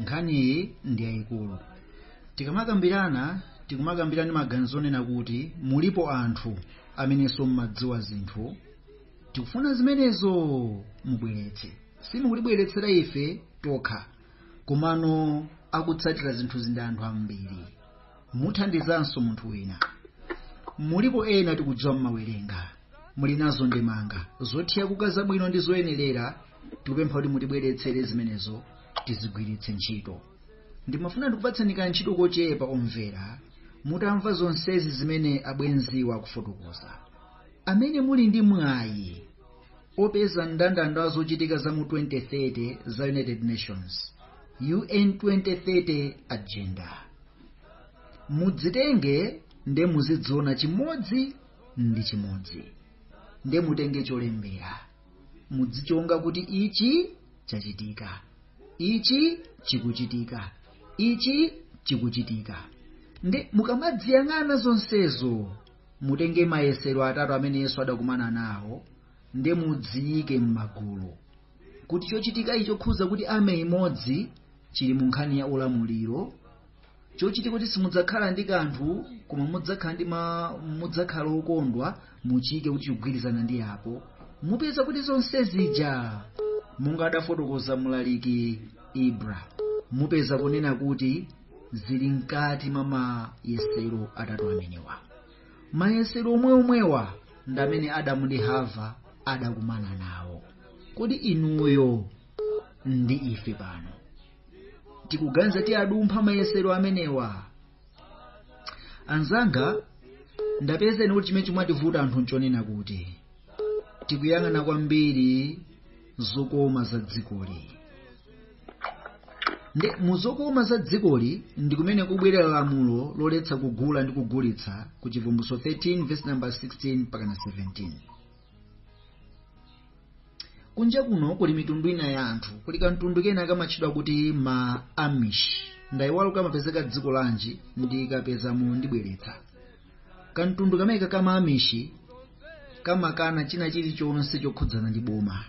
nkhaniyi ndi yayikulu tikamakambirana tikumakambirana ndi maganizo onena kuti mulipo anthu amenenso mmadziwa zinthu tikufuna zimenezo mubweretse simukutibweretsera ife tokha komano akutsatira zinthuzi ndi anthu ambiri muthandizanso munthu wina mulipo ena tikudziwa mmawerenga muli nazo ndemanga zothirira kuti zabwino ndi zoyenerera tikupempha kuti mutibweretsere zimenezo tizigwiritse ntchito ndimafuna ndikupatsani ka ntchito kochepa omvera mutamva zonsezi zimene abwenziwa akufotokoza amene muli ndi mwayi Opeza mndandanda wa zochitika za mu 2030 za United Nations, UN 2030 Agenda. Mudzitenge nde muzidziona chimodzi ndi chimodzi. Nde mutenge cholembera. Mudzichonga kuti ichi chachitika. Ichi chikuchitika. Ichi chikuchitika. Nde mukamadziyang'ana zonsezo mutenge mayesero atatu amene yesu adakumana nawo nde mudziyike m'magulu kuti chochitikayi chokhuza kuti army imodzi chili mu nkhani ya ulamuliro chochitika kuti simudzakhala ndi kanthu koma mudzakhala ndi ma- mudzakhala okondwa muchiyike kuti chikugwirizana ndi apo mupeza kuti zonse zija monga adafotokoza mlaliki ibra mupeza kunena kuti zili mkati mwa mayesero atatu amenewa mayesero omwe omwewa ndi amene adamu ndi hava adakumana nawo kodi inuyo ndi ife pano tikuganiza tiwadumpha mayesero amenewa anzanga ndapeza ine kuti chimene chimativuta anthu nchonena kuti tikuyang'ana kwambiri zokoma za dzikoli nde mu zokoma za dzikoli ndi kumene kubwerera lamulo loletsa kugula ndi kugulitsa ku chivumbulutso 13 verse number 16 mpakana 17 kunja kuno kuli mitundu ina ya anthu kuli kamtundu kena kamatchedwa kuti ma amish ndayiwala kamapezeka dziko lanji ndikapezamo ndibweretsa kamtundu kameneka ka ma amish kamakana china chilichonse chokhudzana ndi boma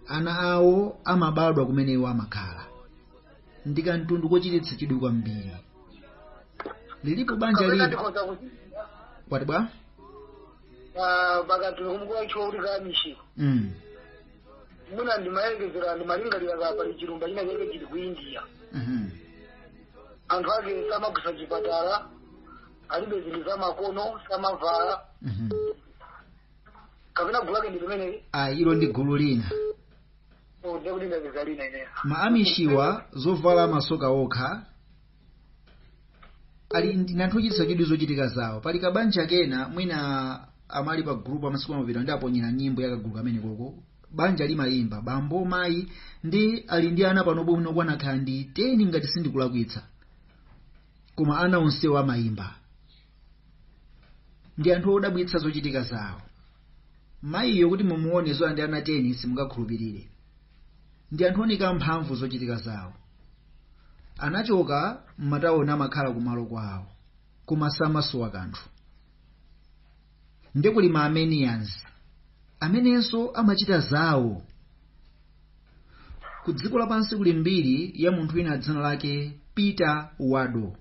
ana awo amabadwa kumene iwo amakhala ndi kamtundu kochititsa chidwi kwambiri lilipo banja kapena lina ndikhoza kuti kwati bwa ah, pakati kumkuwa ichiwa kuti ka amish ko mm. mwina ndimayerekezera ndimalingalira ka pali chilumba china chake chili ku india mhm. anthu ake samagwiritsa chipatala alibe zinthu zamakono samavala Mhm. kapena gulu lake ndi limeneli ayi ilo ndi gulu lina Oh, ndiye kuti ndapeza lina ineyo ma amishiwa zovala amasoka okha ali ndi anthu ochititsa chidwi zochitika zawo pali kabanja kena mwina amene ali pa gulupu masiku apita ndinaponyera nyimbo ya kagulu kamenekoko banja limayimba bambo mayi ndi ali ndi ana panopo mwina okwana kaya ndi 10 ngati sindikulakwitsa koma ana onsewo amayimba ndi anthu odabwitsa zochitika zawo mayiyo kuti mumuone zoti ali ndi ana 10 simungakhulupirire ndi anthu ooneka mphamvu zochitika zawo anachoka m'matawoni amakhala kumalo kwawo koma samasowa kanthu ndiye kuli ma armenians amenenso amachita zawo ku dziko lapansi kuli mbiri ya munthu wina dzina lake peter waldo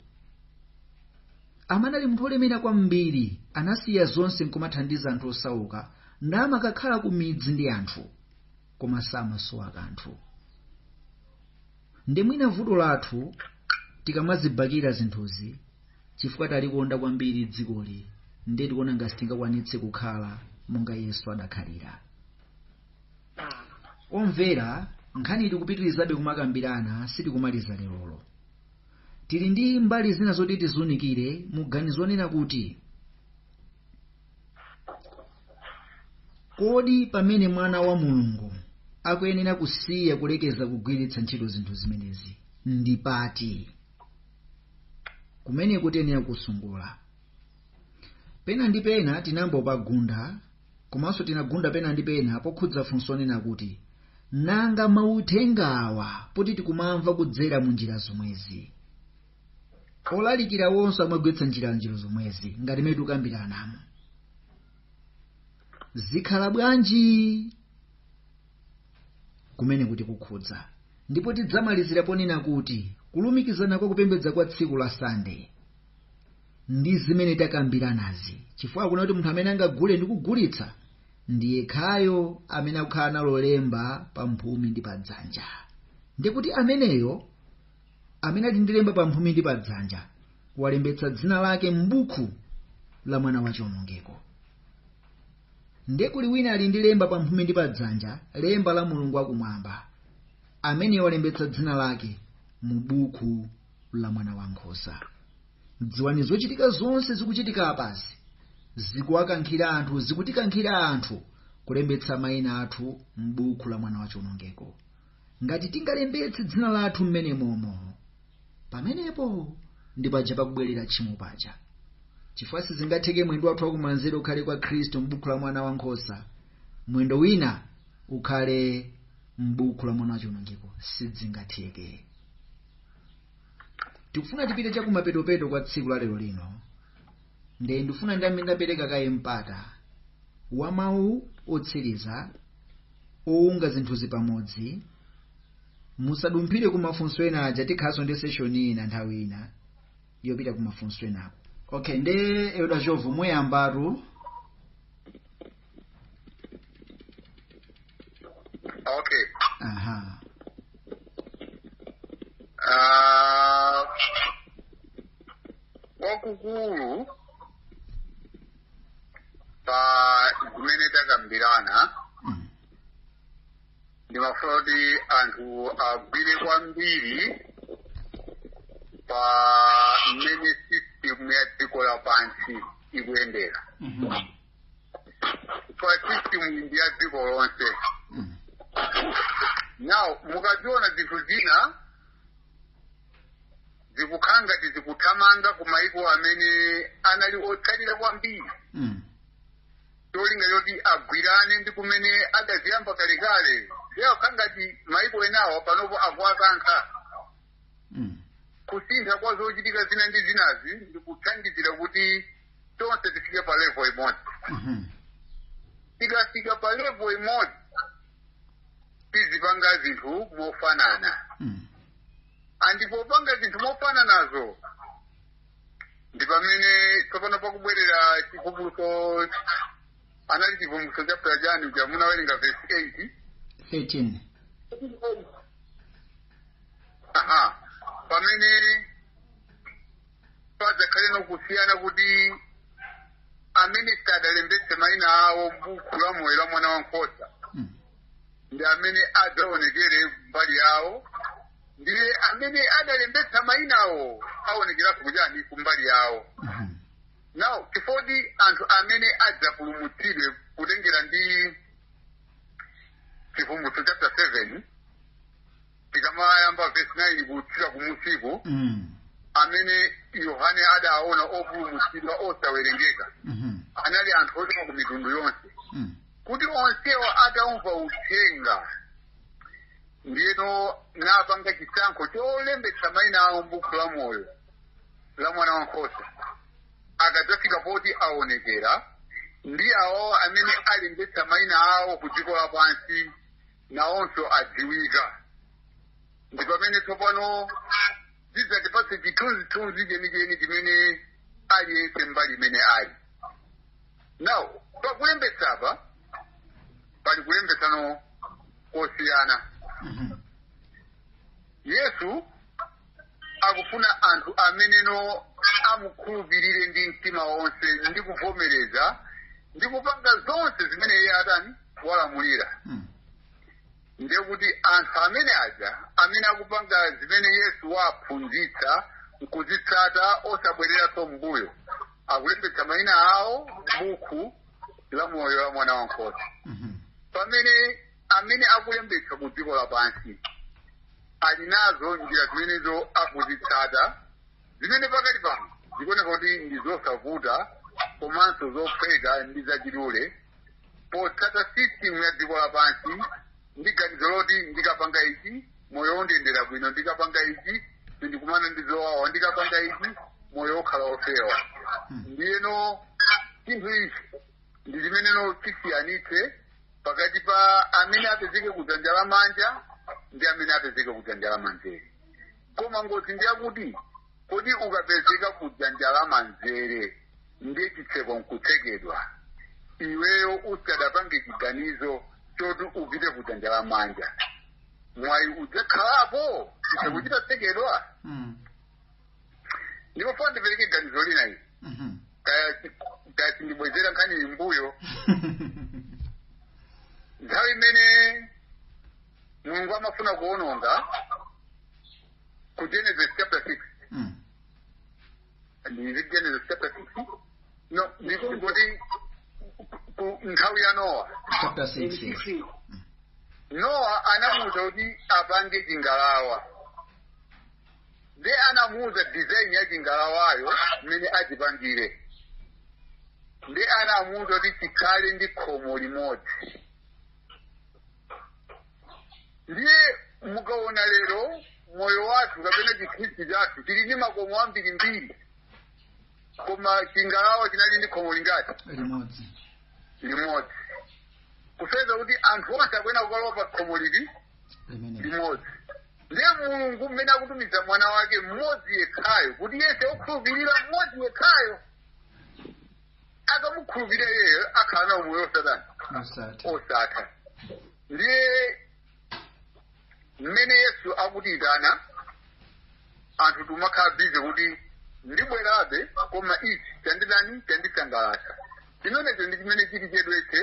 amene anali munthu olemera kwambiri anasiya zonse nkumathandiza anthu osauka namakakhala ku midzi ndi anthu koma samasowa kanthu ndiye mwina vuto lathu tikamazibakira zinthuzi chifukwa talikonda kwambiri dzikoli ndiye tikuona ngati sitingakwanitse kukhala monga yesu adakhalira Omvera, nkhaniyi tikupitirizabe kumakambirana, sitikumaliza lerolo. Tili ndi mbali zina zoti tiziunikire mu ganizo lonena kuti, Kodi pamene Mwana wa Mulungu akuyenera kusiya kulekeza kugwiritsa ntchito zinthu zimenezi ndi pati? Kumeneko tiyenera kukusunga. Pena ndi pena tinayamba kupagunda Komanso tinagunda pena ndi pena pokhudza funso lonena kuti, Nanga mauthengawa poti tikumamva kudzera mu njira zomwezi? Olalikirawonso amagwiritsa njira njira zomwezi ngati mmene tikukambiranamo. Zikhala bwanji? Kumeneko tikukhudza. Ndipo tidzamalizira ponena kuti kulumikizana kwa kupembedza kwa tsiku la Sande. ndi zimene takambiranazi chifukwa akunena kuti munthu amene angagule ndi kugulitsa ndi yekhayo amene akukhala nalo lemba pa mphumi ndi pa dzanja ndiye kuti ameneyo amene ali ndi lemba pa mphumi ndi pa dzanja walembetsa dzina lake m'buku la mwana wa chiwonongeko ndiye kuli wina ali ndi lemba pa mphumi ndi pa dzanja lemba la mulungu wakumwamba ameneyo walembetsa dzina lake mu buku la mwana wa nkhosa dziwani zochitika zonse zikuchitika apazi zikuwakankhira anthu zikutikankhira anthu kulembetsa mayina athu m'buku la mwana wa chionongeko ngati tingalembetse dzina lathu mmene momo pamenepo ndi paja pakubwerera tchimo paja chifukwa sizingatheke mwendo wathu wakumanzere ukhale kwa khristu m'buku la mwana wa nkhosa mwendo wina ukhale m'buku la mwana wa chionongeko sizingatheke tikufuna tipite chakumapetopeto kwa tsiku la lero lino nde ndifuna ndiyambe ndapereka kaye mpata wa mawu otsiriza owunga zinthuzi pamodzi musadumphire ku mafunso ena aja tikhalanso ndi seshoni ina nthawi ina yopita ku mafunso enako okay nde Elder Jovu muyambatu okay aha Ah, kwakukulu pa zimene takambirana Mm. ndimafuna kuti anthu agwire kwambiri pa mmene system ya dziko lapansi ikuyendera Mhm. pa system ndi ya dziko lonse Mm. now mukaziona zinthu zina zikukhala ngati zikuthamanga ku maiko amene anali otsalira kwambiri Mm. cholinga choti agwirane ndi kumene adaziyamba kalekale zikukhala ngati maiko enawo panopo akuwakankha Mm. kusintha kwa zochitika zina ndi zinazi ndikuthandizira kuti tonse tifike pa level imodzi Mhm. tikafika pa level imodzi tizipanga zinthu mofanana Mm. andi popanga zinthu mofananazo ndi pamene tsopano pakubwerera chivumbulutso anali chivumbulutso chapter chani uja munawerenga verse 8 13 aha pamene padzakhale nokusiyana kuti amene sadalembetse maina awo m'buku la moyo la mwana wankhosa Mm. ndi amene adzaonekere mbali yawo ndiye amene adalembetsa mainawo aonekeranso kuchani kumbali yawo Mhm. now chifoti anthu amene adzapulumutsidwe kutengera ndi chivumbulutso chapter 7 tikamayamba vesi 9 kutsika kumunsiku Mm. amene yohane adaona opulumutsidwa osawerengeka Mhm. anali anthu ochokera ku mitundu yonse Mm. kuti onsewa ataumva uthenga ndiyeno napanga chisankho cholembetsa maina awo m'buku la moyo la mwana wa nkhosa akadzafika poti aonekera ndi awo amene alembetsa maina awo ku dziko lapansi nawonso adziwika ndi pamene tsopano zidzatipatse chithunzithunzi chenicheni chimene aliyense mbali imene ali now pakulembetsapa pali kulembetsano kosiyana Mhm. yesu akufuna anthu ameneno amukhulupirire ndi mtima wonse ndi kuvomereza ndi kupanga zonse zimene iye atani walamulira Mm. ndiye kuti anthu amene aja amene akupanga zimene yesu waphunzitsa nkuzitsata osabwereranso m'mbuyo akulembetsa mayina awo m'buku la moyo la mwana wankhosa Mhm. pamene amene akulembetsa ku dziko lapansi ali nazo njira zimenezo akuzitsata zimene pakali pano zikuoneka kuti ndi zosavuta komanso zophweka ndi zachidule potsata system ya dziko lapansi ndi ganizo loti ndikapanga ichi moyo undiyendera bwino ndikapanga ichi sindikumana ndi zowawa ndikapanga ichi moyo ukhala wofewa ndiyeno chinthu ichi ndi chimeneno chisiyanitse pakati pa amene apezeke kudzanja la manja ndi amene apezeke kudzanja la manzere koma ngozi ndi yakuti kodi ukapezeka kudzanja la manzere ndiye chitseko nkutsekedwa iweyo usadapange chiganizo choti upite kudzanja la manja mwayi udzakhalapo chitseko chitatsekedwa Mm. ndikufuna ndipereke ganizo lina ili Mhm. kaya kaya sindibwezera nkhani iyi m'mbuyo nthawi imene mulungu amafuna kuononga ku genesis chapter 6 Mm. ndi genesis chapter 6 no ndikungoti ku- nthawi ya nowa chapter 6 yes. nowa anamuuza kuti apange chingalawa nde anamuuza design ya chingalawayo mmene achipangire nde anamuuza kuti chikhale ndi khomo limodzi ndiye mukaona lero moyo wathu kapena chikhristu chathu chili ndi makomo ambirimbiri koma chingalawa chinali ndi khomo lingati limodzi limodzi kusonyeza kuti anthu onse akuyenera kukalowa pa khomo lili Amen. limodzi ndiye mulungu mmene akutumiza mwana wake mmodzi yekhayo kuti yese okhulupirira mmodzi yekhayo akamukhulupirira iyeyo akhala na umoyo osatana Osati. osatha ndiye mmene yesu akutiyitana anthu timakhala bize kuti ndibwerabe koma ichi chandidani chandisangalatsa chimenecho ndi chimene chili chedwetse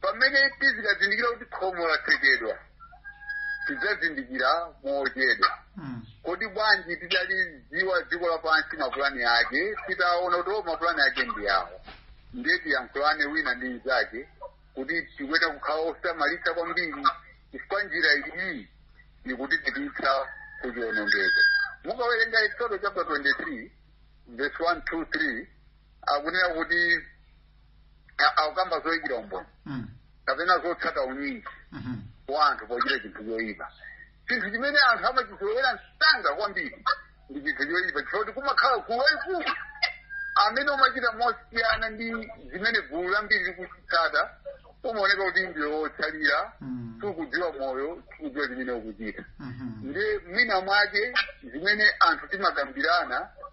pamene tizikazindikira kuti khomo latsekedwa tidzazindikira mochedwa Mm. kodi bwanji tidalidziwa dziko lapansi mapulani ake titaona kuti o mapulani ake ndi awo ndiye tiyankhulane wina ndi mnzake kuti tikuyenera kukhala osamalitsa kwambiri chifukwa njira iyi ikutipititsa ku chiwonongeko mukawerenga eksodo chapter 23 verse 1 2 3 akunena kuti a- akukamba zoyikira umboni Mm. kapena zotsata unyinji Mhm. wa anthu pochita chinthu choyipa chinthu chimene anthu amachizolowera msanga kwambiri ndi chinthu choyipa chifukwa choti kumakhala gulu lalikulu amene umachita mosiyana ndi zimene gulu lambiri likuchitsata umaoneka kuti ndiwe wotsalira Mm. sukudziwa moyo sukudziwa zimene ukuchita Mhm. ndiye mwina mwake zimene anthu timakambirana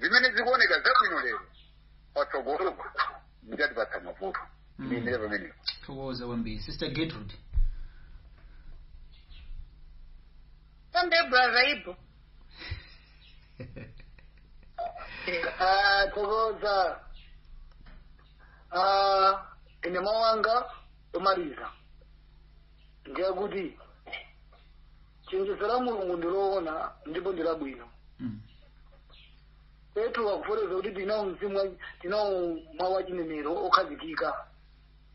zimene zikuoneka zabwino lero patsogolopo zidzatipatsa mavuto Mm. ndiyendere pamenepo thokoza kwambiri sister gertrude Sunday brother Ibu. Ah, thokoza Ah, ine mawu anga omaliza ndi akuti chenjezo la mulungu ndi loona ndipo ndi labwino Mm. petro akufotokoza kuti tinawo mzimu wa- tinawo mawu achinenero okhazikika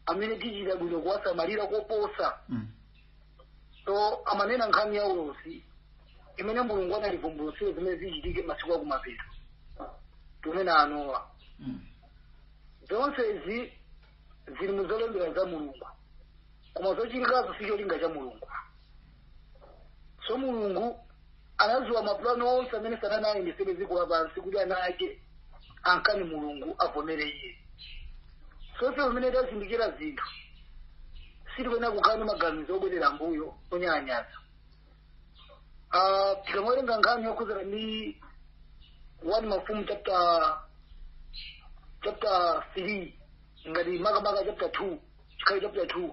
amene tichita bwino kuwasamalira koposa Mm. so amanena nkhani ya ulosi imene mulungu anativumbulutsira zimene zichitike masiku akumapeto tikunena anowa Mm. zonsezi zili mu zolembera za mulungu koma zochitikazo si cholinga cha mulungu so mulungu anadziwa mapulani onse amene satana ayendesere dziko lapansi kuti ana ake amkane mulungu avomere iye so ife pamene tazindikira zinthu sitikuyenera kukhala ndi maganizo obwerera mbuyo onyalanyaza Ah, tikamawerenga nkhani yokhudzana ndi one mafumu chapter chapter three ngati makamaka chapter 2 chikhala chapter 2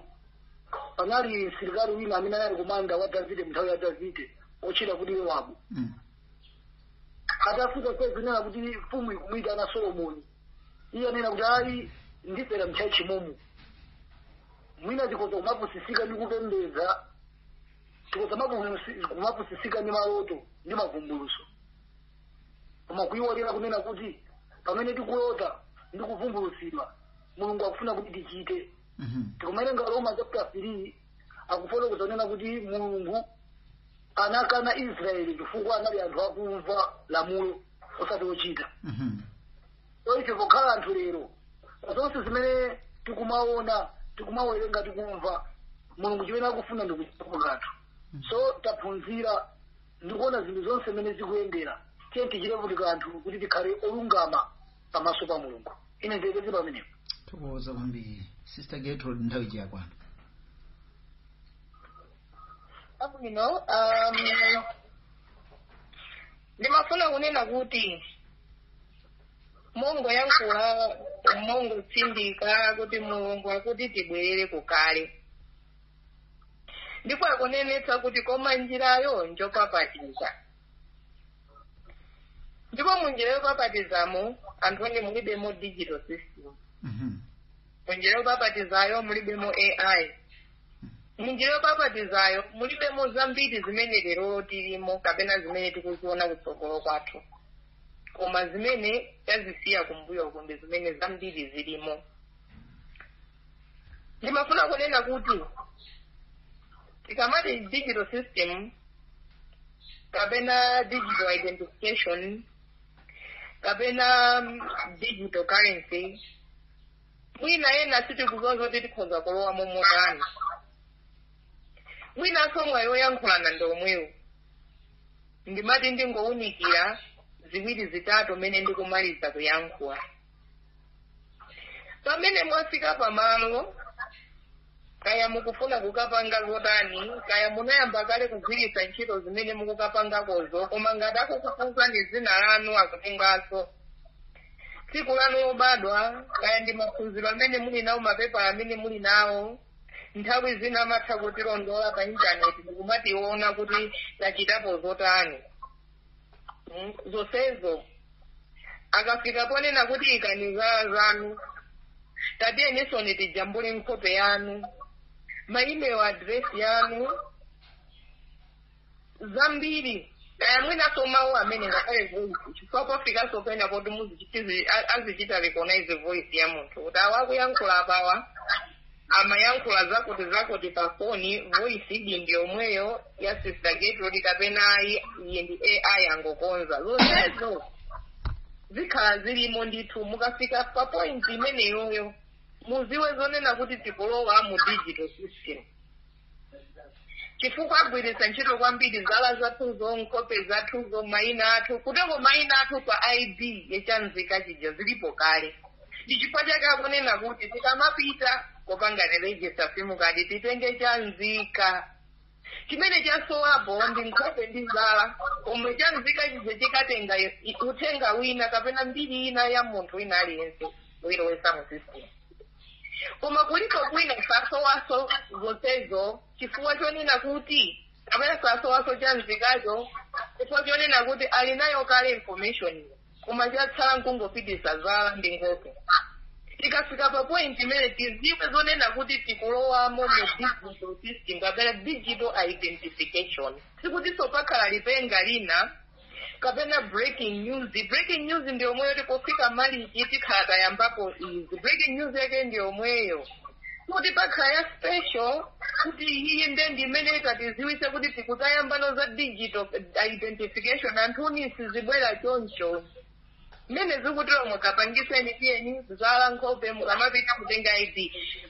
panali msilikali wina amene anali komanda wa davide mnthawi ya davide otchedwa kuti yowabu Mm. atafika ndikunena kuti mfumu ikumwita ana solomoni iye ananena kuti ayi ndifera mchachi momu mwina tikoza kumapusisika ndi kupembedza tikoza mapu- kumapusisika ndi maloto ndi mavumbulutso koma kuyiwalira kunena kuti pamene tikulota ndi kuvumbulutsidwa mulungu akufuna kuti tichite Mhm. tikumawerenga aroma chapter 3 akufotokoza kunena kuti mulungu anakana israeli chifukwa anali anthu akumva lamulo osati ochita Mhm. so ife pokhala anthu lero zonse zimene tikumaona tikumawerenga tikumva mulungu chimene akufuna ndikuchitapo kanthu so taphunzira ndi kuona zinthu zonse mmene zikuyendera tiyeni tichite kuti kanthu kuti tikhale olungama pamaso pa mulungu ine ndilekeze pamenepo tathokoza kwambiri sister gertrude nthawi siyakwana abwino um, ndimafuna kunena kuti mongoyankhula mongotsindika kuti mulungu akuti tibwerere kukale ndipo akunenetsa kuti koma njirayo njopapatiza ndipo mu njira yopapatizamo anthu inu mulibemo digital system Mhm. mu njira yopapatizayo mulibemo ai mu njira yopapatizayo mulibemo zambiri zimene lero tilimo kapena zimene tikuziona kutsogolo kwathu koma zimene tazisiya kumbuyo uku ndi zimene zambiri zilimo ndimafuna kunena kuti tikamati digital system kapena digital identification kapena mm, digital currency mwina ena sitikudziwa zoti tikhoza kulowa momotani mwinanso mwayi woyankhulana ndi womwewu ndimati ndingowunikira ziwiri zitatu mmene ndikumaliza kuyankhula pamene mwafika pamalo kaya mukufuna kukapanga zotani kaya munayamba kale kugwiritsa ntchito zimene mukukapangakozo koma ngati akukufunsani dzina lanu akutenganso tsiku lanu lobadwa kaya ndi maphunziro amene muli nawo mapepala amene muli nawo nthawi zina amatha kutilondola pa intaneti ndikumationa kuti tachitapo zotani Mm, zonsezo akafika ponena kuti ikani zala zanu tatiyenisoni tijambule nkhope yanu ma email address yanu zambiri kaya mwinaso mawu amene ngakhale voice chifukwa pofikanso pena poti muzichitizi- a- azichita recognize voice ya munthu kuti awa akuyankhula apawa amayankhula zakuti zakuti pa foni voice idi ndiyomweyo ya sister gertrude kapena ayi iye ndi ai angokonza zonsezo zikhala zilimo ndithu mukafika pa point imeneyoyo muziwe zonena kuti tikulowa mu digital system chifukwa agwiritsa ntchito kwambiri zala zathuzo nkhope zathuzo mayina athu kuteroko mayina athu pa id ya chanzika chija zilipo kale ndi chifukwa chake akunena kuti tikamapita kopanga register simukadi titenge chanzika chimene chasowapo ndi nkhope ndi zala pomwe chanzika chija chikatenga i- uthenga wina kapena mbiri ina ya munthu wina aliyense uyilowesa mu system koma kulipo kwina sasowaso zonsezo chifukwa chonena kuti kapena sasowaso chanzikacho chifukwa chonena kuti ali nayo kale information koma chatsala nkungopitisa zala ndi nkhope tikafika pa point imene tiziwe zonena kuti tikulowamo mu digital system kapena digital identification sikutinso pakhala lipenga lina kapena breaking news breaking news ndi yomweyo tikufika malichi tikhala tayambapo izi breaking news yake ndi yomweyo kuti pakhala ya special kuti iyiyi nde ndi imene itatiziwise kuti tiku- tayambano za digital identification anthuni sizibwera choncho mmene zikuteromu kapangitseni tiyeni zala nkhope mukamapita kutenga id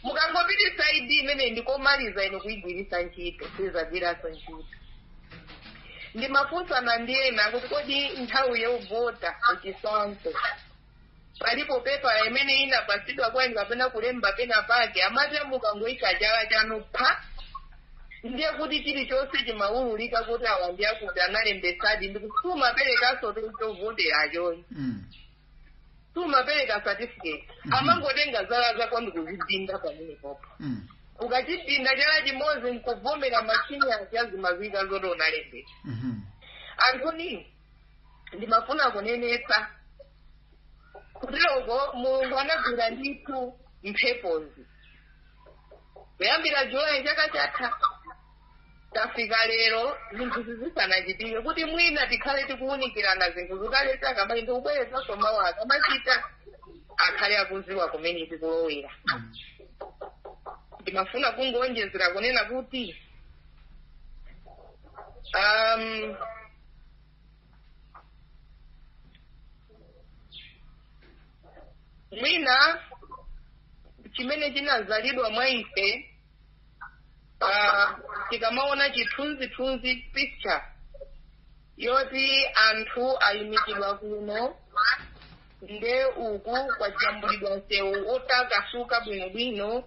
mukangopititsa id imene ndikomaliza inu kuyigwiritsa ntchito sizagwiranso ntchito ndimafunsana ndi ena kuti kodi nthawi yovota kuchisankho palipo pepala imene inapatsidwa kwa inu kapena kulemba pena pake amati mukangoyika chala chanu pa ndiye kuti chilichonse chimawululika kuti awa ndi akuti analembesadi ndi kuti sumaperekanso chovoterachoyi Mm. sumapereka certificate Mhm. amangotenga zala zako ndikuzidinda pamenepopo Mm. ukachidinda chala chimodzi nkuvomera machini aja zimaziwika zoti unalembesa Mhm. anthuni ndimafuna kunenetsa kuteroko mulungu anagwira ndithu mphepozi kuyambira julayi chaka chatha tafika lero zinthuzi zisanachitike kuti mwina tikhale tikuwunikirana zinthuzi kale takambazi ndikubwerezaso mawu akamachita akhale akuziwa kumene tikulowera ndimafuna kungonjezera kunena kuti um, mwina chimene chinazalidwa mwa ife ah, tikamaona chithunzithunzi picture yoti anthu ayimikidwa kuno nde uku kwajambulidwa msewu otakasuka bwinobwino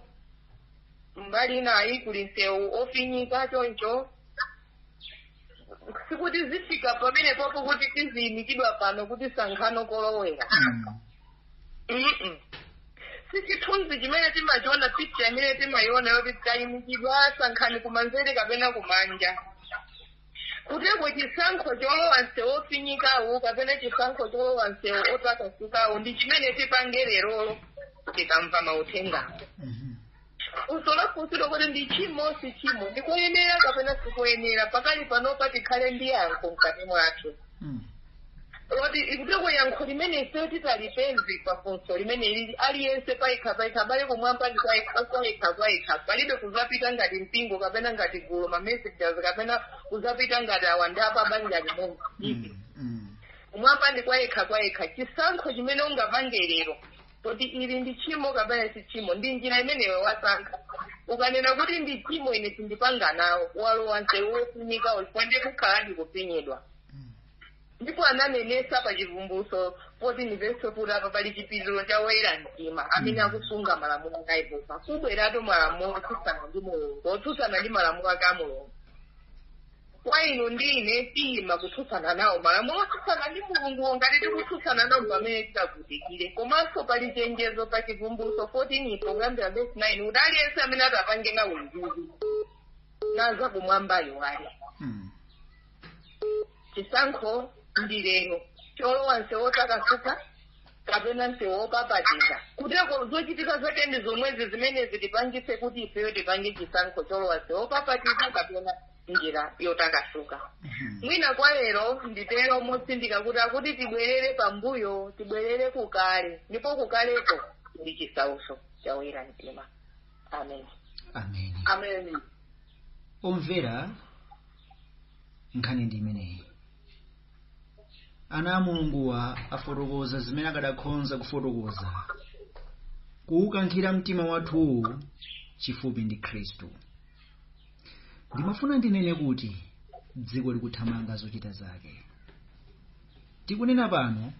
mbali inayi kuli msewu ofinyika choncho sikuti zifika pamene popo kuti tiziyimikidwa pano kuti sankhani kolowera Mm. Mm-mm. si chithunzi chimene timachiona picha imene timayiona yoti tayimikidwa sankhani kumanzere kapena kumanja kuteko chisankho cholowa msewu ofinyikawo kapena chisankho cholowa msewu otakasukawo ndi chimene tipange lerolo tikamva mauthengawo Mhm. funso lafunsidwa kuti ndi chimo si chimo ndikoyenera kapena sikoyenera pakali panopa tikhale ndi yankho mkati mwathu Mm. loti kuteko yankho limene ifeyo titalipeze pa funso limene lili aliyense payekha payekha abale kumwamba ndi kwayekha kwayekha palibe kuzapita ngati mpingo kapena ngati gulu ma messengers kapena kuzapita ngati awandapa banja limodzi Mm. Mm. kumwamba ndi kwayekha kwayekha chisankho chimene ungapange lero Kuti ili ndi tchimo kapena si tchimo? Ndi njira imeneyo wasankha. Ukanena kuti ndi tchimo ine sindipanga nawo, walowa msewu wofinyika uyu, chifukwa ndiye kukhala ndikufinyidwa. Ndipo ananenesa pa Chivumbulutso 14 vesi 4 kuti apa pali chipiriro cha woyera mtima amene akusunga malamulo ake a Yehova. Kubweratu malamulo otsutsana ndi Mulungu, otsutsana ndi malamulo ake a Mulungu. kwa inu ndi ine tiyima kutsutsana nawo malamulo otsutsana ndi mulunguwo ngati tikutsutsana nawo pamene titavutikire komanso pali chenjezo pa chivumbulutso 14 po kuyambira vesi 9 kuti aliyense amene atapange nawo ndithu zakumwamba ayiwale Mm. chisankho ndi lero cholowa nsewu otakasuka kapena msewu wopapatiza kuteko zochitika zake ndi zomwezi zimene zitipangitse kuti ifeyo tipange chisankho cholowa msewu wopapatiza kapena njira yotakasuka mwina kwa lero nditero motsindika kuti akuti tibwerere pambuyo tibwerere kukale ndipo kukaleko ndi chisautso cha oyera mtima amen amen amen omvera nkhani ndi imeneyi ana a mulunguwa afotokoza zimene akadakhonza kufotokoza kuwukankhira mtima wathuwu chifupi ndi khristu ndimafuna ndinene kuti dziko likuthamanga zochita zake tikunena pano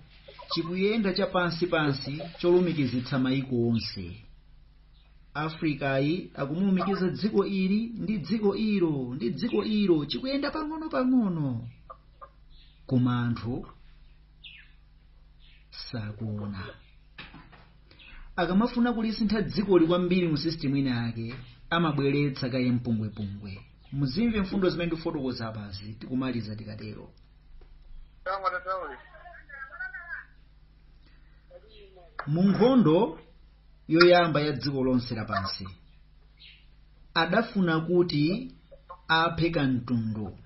chikuyenda chapansi pansi cholumikizitsa mayiko onse afrikayi akumulumikiza dziko ili ndi dziko ilo ndi dziko ilo chikuyenda pang'ono pang'ono koma anthu sakuona akamafuna kulisintha dzikoli kwambiri mu system ina yake amabweretsa kaye mpungwepungwe muzimve mfundo zimene ndifotokoza apazi tikumaliza tikatero mu nkhondo yoyamba ya dziko lonse lapansi adafuna kuti aphe kamtundu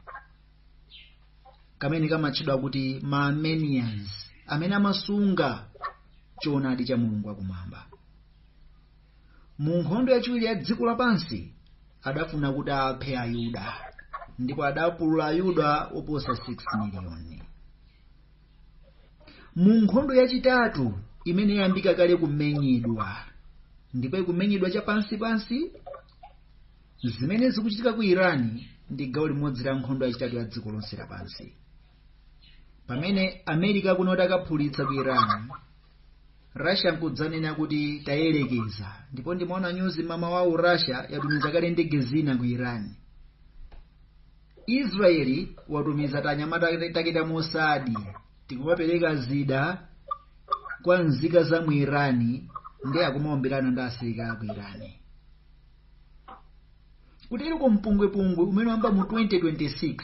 kamene kamatchedwa kuti ma armenians amene amasunga choonadi cha mulungu wakumwamba mu nkhondo yachiwiri ya dziko lapansi adafuna kuti aphe ayuda ndipo adapulula ayuda oposa 6 miliyoni mu nkhondo yachitatu imene yayambika kale kumenyedwa ndipo ikumenyedwa chapansipansi zimene zikuchitika ku iran ndi gawo limodzi la nkhondo yachitatu ya dziko lonse lapansi pamene america kunoti akaphulitsa ku iran russia nkudzanena kuti tayerekeza ndipo ndimaona nyuzi mama wawo russia yatumiza kale ndege zina ku iran israeli watumiza tanyamata take ta mossad tikumapereka zida kwa nzika za mu iran ndi akumaombelana ndi asilikali ku iran kutero kwa mpungwepungwe umene wamba mu 2026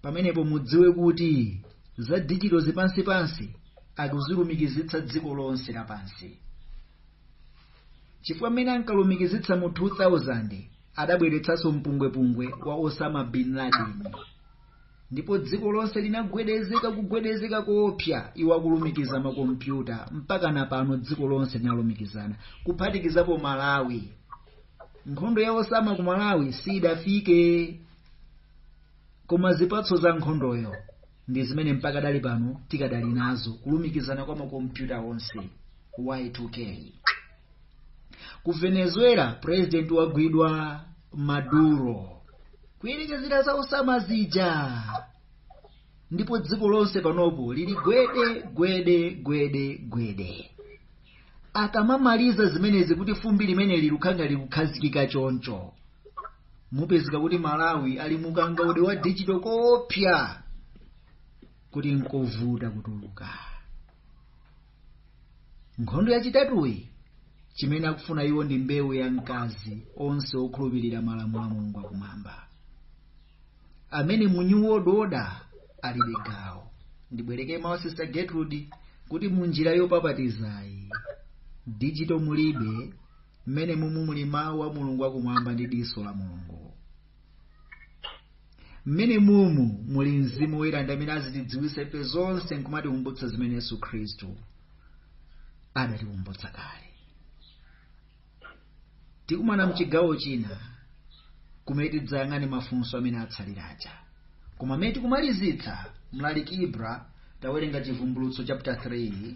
pamenepo mudziwe kuti za dijitozi pansipansi akuzilumikizitsa dziko lonse lapansi chifukwa mmene ankalumikizitsa mu 2000 adabweretsanso mpungwepungwe wa osama bin laden ndipo dziko lonse linagwedezeka kugwedezeka koopsa iwo akulumikiza makompyuta mpaka na pano dziko lonse linalumikizana kuphatikizapo malawi nkhondo ya osama ku malawi sidafike koma zipatso za nkhondoyo ndi zimene mpakadali pano tikadali nazo kulumikizana kwa makompyuta onse y2k ku venezuela president wagwidwa maduro kuyerekezera za osama zija ndipo dziko lonse panopo lili gwede gwede gwede gwede akamamaliza zimenezi kuti fumbi limeneli likhanga likukhazikika choncho mupezeka kuti malawi ali mukangaude wa digital koopsa kuti nkovuta kutuluka nkhondo yachitatuyi chimene akufuna iwo ndi mbewu ya mkazi onse okhulupirira malamulo a mulungu akumwamba amene mu new world order alibe gawo ndibwereke mawu sister gertrude kuti mu njira yopapatizayi digital mulibe mmene mumu muli mawu a mulungu akumwamba ndi diso la mulungu mmene mumu muli mzimu woyera amene azitidziwitsa ife zonse nkumatikumbutsa zimene yesu khristu adatikumbutsa kale tikumana mchigawo china kumene tidzayang'ane mafunso amene atsalira aja koma mmene tikumalizitsa mlaliki ibra tawerenga chivumbulutso chapter 3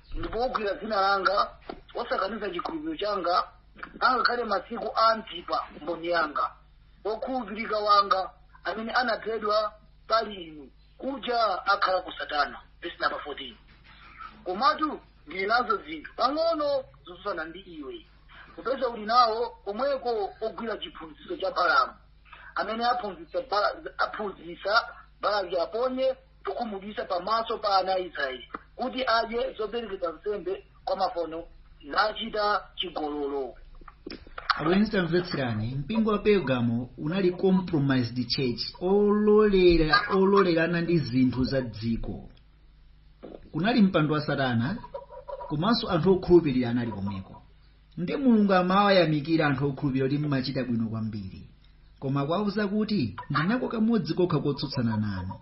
ndipo ugwira dzina langa wosakaniza chikhulupiriro changa angakhale masiku a antipa mboni yanga wokhulupirika wanga amene anaphedwa pali inu kuja akhala ku satana vesi namba 14 komatu ndili nazo zinthu pang'ono zotsutsana ndi iwe popeza uli nawo komweko ogwira chiphunzitso cha balamu amene aphunzitsa Bala- aphunzitsa balaki aponye chokhumudwitsa pamaso pa ana a Israeli kuti adye zoperekedwa nsembe kwa mafano nachita chigololo abwenzi tamvetserani mpingo wa pergamo unali compromised church ololera ololerana ndi zinthu za dziko kunali mpando wa satana komanso anthu okhulupirira anali komweko Nde mulungu amawayamikira anthu okhulupirira kuti mmachita bwino kwambiri koma akuwauza kuti ndinako kamodzi kokha kotsutsana nanu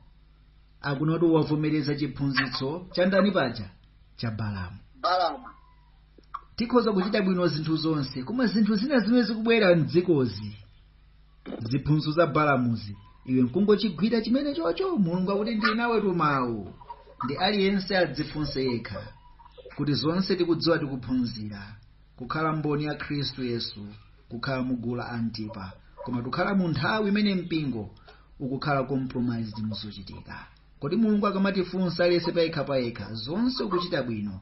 akunena kuti wavomereza chiphunzitso cha ndani paja cha balamu tikhoza kuchita bwino zinthu zonse koma zinthu zina zimene zikubwera mdzikozi ziphunzitso za balamuzi iwe nkungochigwira chimene chocho mulungu akuti ndili nawe tumawu nde aliyense adzifunse yekha kuti zonse tikudziwa tikuphunzira kukhala mboni ya khristu yesu kukhala mugulu la antipa koma tukhala mu nthawi imene mpingo ukukhala compromised muzochitika kodi mulungu akamatifunsa aliyense payekha payekha zonse ukuchita bwino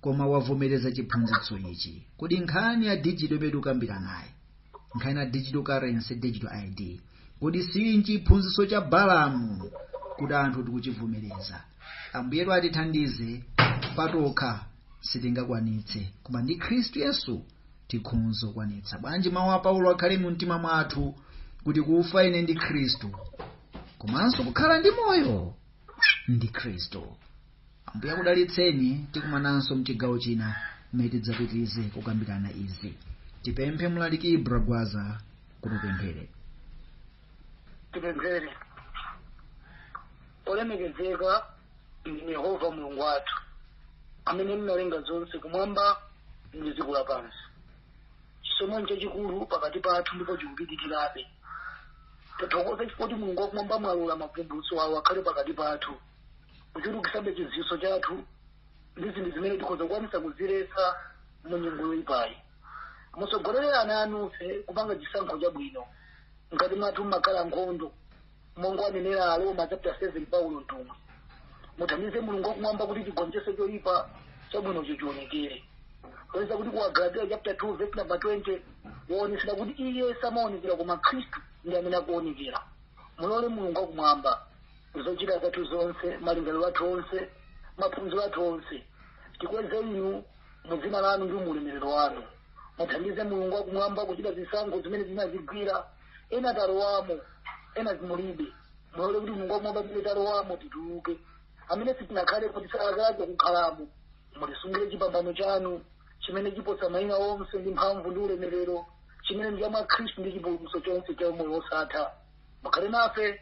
koma wavomereza chiphunzitso ichi kodi nkhani ya dijito imene tikukambiranayi nkhani ya digital currency digital id kodi sili chiphunzitso cha balamu kuti anthu tikuchivomereza ambuyetu atithandize patokha sitingakwanitse koma ndi khristu yesu tikhonza kukwanitsa bwanji mawu a paulo akhale mu mtima mwathu kuti kufa ine ndi khristu komanso kukhala ndi moyo ndi khristu ambuye akudalitseni tikumananso mchigawo china mmene tidzapitirize kukambirana izi tipemphe mlaliki ibra gwaza kuti atipempherere tipemphere olemekezeka ndinu yehova mulungu wathu amene munalenga zonse kumwamba ndi dziko lapansi chisomo chachikulu pakati pathu ndipo chikupitirirabe tathokoza chifukwa kuti mulungu wakumwamba mwalola mavumbulutso awo akhale pakati pathu kuchulukitsabe chidziwitso chathu ndi zinthu zimene tikhoza kukwanisa kuziletsa mu nyengo yoyipayi mutsogolere ana anufe kupanga chisankho chabwino ngati mwathu mmakhala nkhondo monga anenera aroma chapter 7 paulo mtumwi muthandize mulungu wakumwamba kuti chigonjetse choyipa chabwino chichionekere oyesa kuti ku agalatiya chapter 2 verse number 20 waonetsera kuti iye samaonekera koma khristu ndi amene akuonekera mulole mulungu wakumwamba zochita zathu zonse malingaliro athu onse maphunziro athu onse tikweze inu mu dzina lanu ndi muulemerero wanu muthandize mulungu wakumwamba kuchita zisankho zimene zinazigwira ena talowamo ena zimulibe mulole kuti mulungu wakumwamba zimene talowamo tituluke amene sitinakhale tisalakelake kukhalamo mulisungire chipambano chanu chimene chiposa mayina onse ndi mphamvu ndi ulemerero chimene ndi cha mwa khristu ndi chipulumutso chonse cha umoyo wosatha mukhale nafe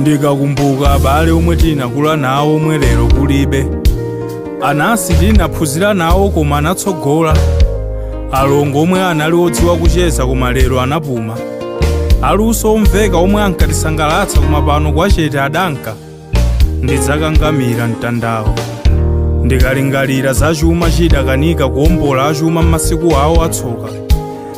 ndikakumbuka abale omwe tinakula nawo omwe lero kulibe anansi tinaphunzira nawo koma anatsogola alongo omwe anali odziwa kucheza koma lero anapuma aluso omveka omwe ankatisangalatsa koma pano kwachete adanka ndidzakangamira mtandawo ndikalingalira za chuma chidakanika kuombola achuma m'masiku awo atsoka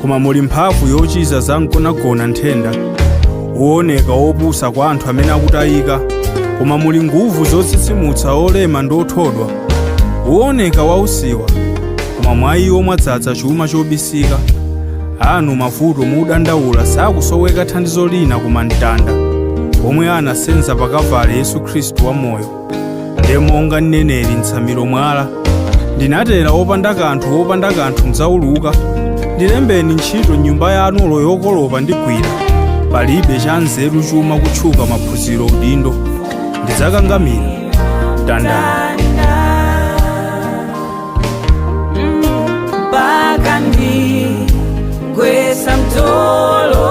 koma muli mphamvu yochiza za mgonagona nthenda wooneka wopusa kwa anthu amene akutayika koma muli nguvu zotsitsimutsa olema ndi othodwa wooneka wausiwa koma mwa iwo mwadzaza chuma chobisika anu mavuto mudandaula sakusoweka thandizo lina koma mtanda omwe anasenza pa kavale yesu khristu wamoyo ndiye monga ninenera mtsamiro mwala ndinatera opanda kanthu wopanda kanthu mdzauluka ndilembeni ntchito nyumba yanu olo yokolopa ndigwira palibe cha nzeru chuma kutchuka maphunziro udindo ndidzakangamira mtandawo mpaka ndigwetsa mtolo